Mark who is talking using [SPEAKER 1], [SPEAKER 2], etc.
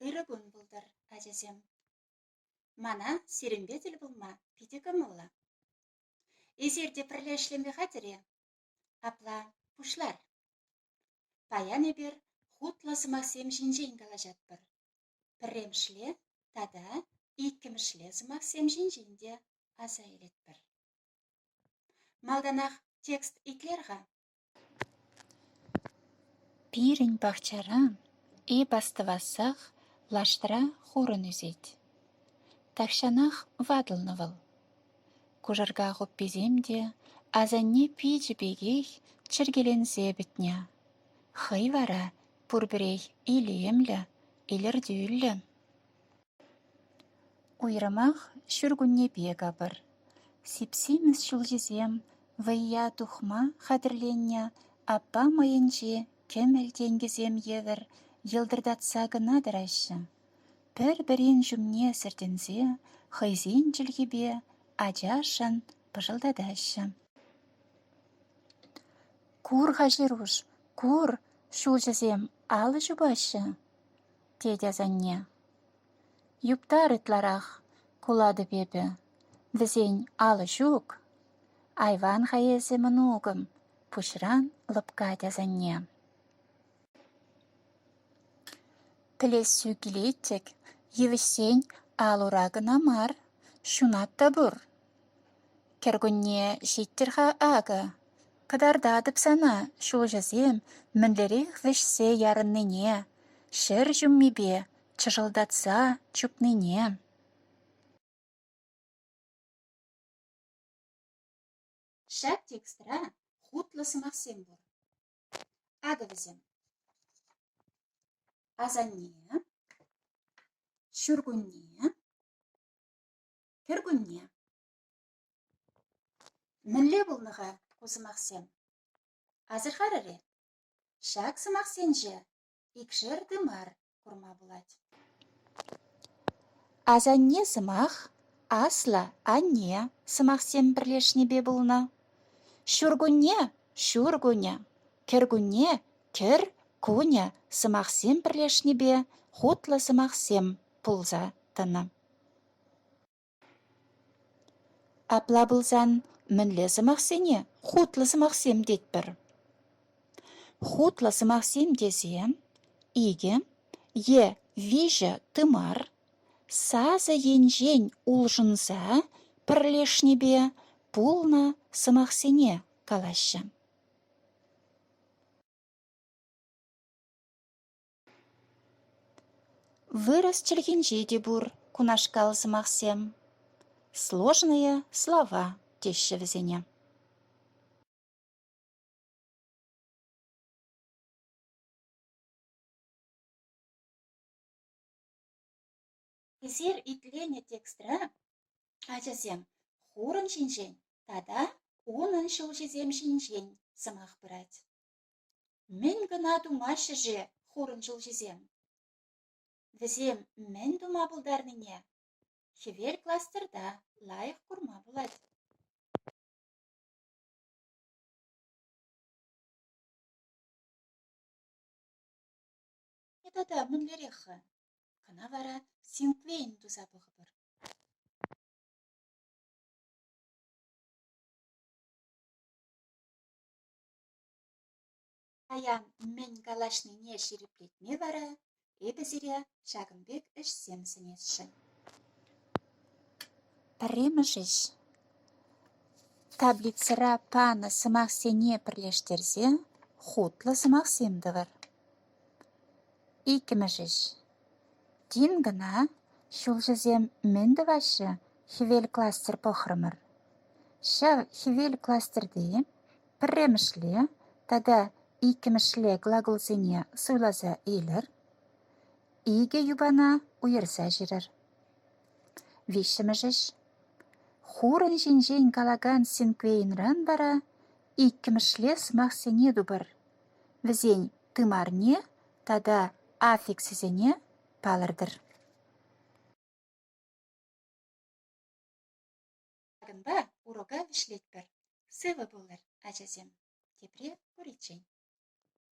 [SPEAKER 1] Ырӑ кун пултӑр, ачасем. Мана сирӗнпе тӗл пулма питӗ кӑмӑллӑ. Эсир те пӗрле ӗҫлеме хатӗр-и? Апла пуҫлар. Паян эпир хутлӑ сӑмахсем ҫинчен калаҫатпӑр. Пӗрремӗшле тата иккӗмӗшле сӑмахсем ҫинчен те аса илетпӗр. Малтанах текст итлер-ха.
[SPEAKER 2] Пирӗн пахчара эп астӑвассах лаштра хурӑн ӳсет. Тахҫанах ватӑлнӑ вӑл. Кушӑрка хупписем те асанне пичӗ пекех чӗркеленсе пӗтнӗ. Хӑй вара пурпӗрех илемлӗ, илӗртӳллӗ. Уйрӑмах ҫуркуннепе капӑр. Сип-симӗс ҫулҫисем вӑййа тухма хатӗрленнӗ аппа мӑйӗнче кӗмӗл тенкӗсем евӗр йӑлтӑртатса кӑна тӑраҫҫӗ. Пӗр-пӗрин ҫумне сӗртӗнсе хӑйсен чӗлхипе ачашӑн пӑшӑлтатаҫҫӗ. «Кур-ха, Ҫеруш, кур, ҫулҫӑсем алӑ ҫупаҫҫӗ!» тет асанне. «Юптар ытларах кулатӑп эпӗ. Вӗсен алӑ ҫук. Айван-ха эсӗ, мӑнукӑм, пуҫран лӑпкать асанне». Пӗлессӳ килет-тӗк, йывӑҫсен ал-ура кӑна мар, ҫунат та пур. Кӗркунне ҫиттӗр-ха акӑ, кӑтартатӑп сана ҫулҫӑсем мӗнлерех вӗҫсе ярӑннине, ҫӗр ҫуммипе чӑшӑлтатса чупнине.
[SPEAKER 1] Ҫак текстра хутлӑ сӑмахсем пур. Акӑ вӗсем. Асанне, ҫуркунне, Кӗркунне. Мӗнле пулнӑ-ха ку сӑмахсем? Асӑрхарӑр-и? Ҫак сӑмахсенче икшер тымар курма пулать.
[SPEAKER 2] Асанне сӑмах аслӑ анне сӑмахсем пӗрлешнипе пулнӑ. Ҫуркунне ҫуркунӗ, кӗркунне кӗр кунӗ сӑмахсем пӗрлешнипе хутлӑ сӑмахсем пулса тӑнӑ. Апла пулсан мӗнле сӑмахсене хутлӑ сӑмахсем тетпӗр? Хутлӑ сӑмахсем тесе икӗ е виҫӗ тымар сасӑ енчен улшӑнса пӗрлешнипе пулнӑ сӑмахсене калаҫҫӗ. Вырӑс чӗлхинче те пур кунашкал сӑмахсем. Сложные слова теҫҫӗ вӗсене.
[SPEAKER 1] Пӗлтер итленӗ текстра ачасем хурӑн ҫинчен тата унӑн ҫулҫисем ҫинчен сӑмах пырать. Мӗн кӑна тумаҫҫӗ-ши хурӑн ҫулҫисем? Вӗсем мӗн тума пултарнине хӗвел кластерта лайӑх курма пулать. тата мӗнлерех-ха? Кӑна вара синквейн туса пӑхӑпӑр. Паян мӗн калаҫнине ҫирӗплетме вара эпӗ сире ҫакӑн пек ӗҫсем сӗнесшӗн.
[SPEAKER 2] Пӗрремӗш ӗҫ таблицӑра панӑ сӑмахсене пӗрлештерсе хутлӑ сӑмахсем тӑвӑр. Иккӗмӗш ӗҫ. Тин кӑна ҫулҫӑсем мӗн тӑваҫҫӗ? Хӗвел кластер пӑхрӑмӑр. Ҫав хӗвел кластерти пӗрремӗшле тата иккӗмӗшле глаголсене суйласа илӗр. Икӗ юпана уйӑрса ҫырӑр. Виҫҫӗмӗш ӗҫ. Хурӑн ҫинчен калакан синквейнран вара иккӗмӗшле сӑмахсене тупӑр. вӗсен тымарне тата аффикссене палӑртӑр.
[SPEAKER 1] Ҫакӑнпа урока вӗҫлетпӗр. Сывӑ пулӑр, ачасем, тепре куриччен.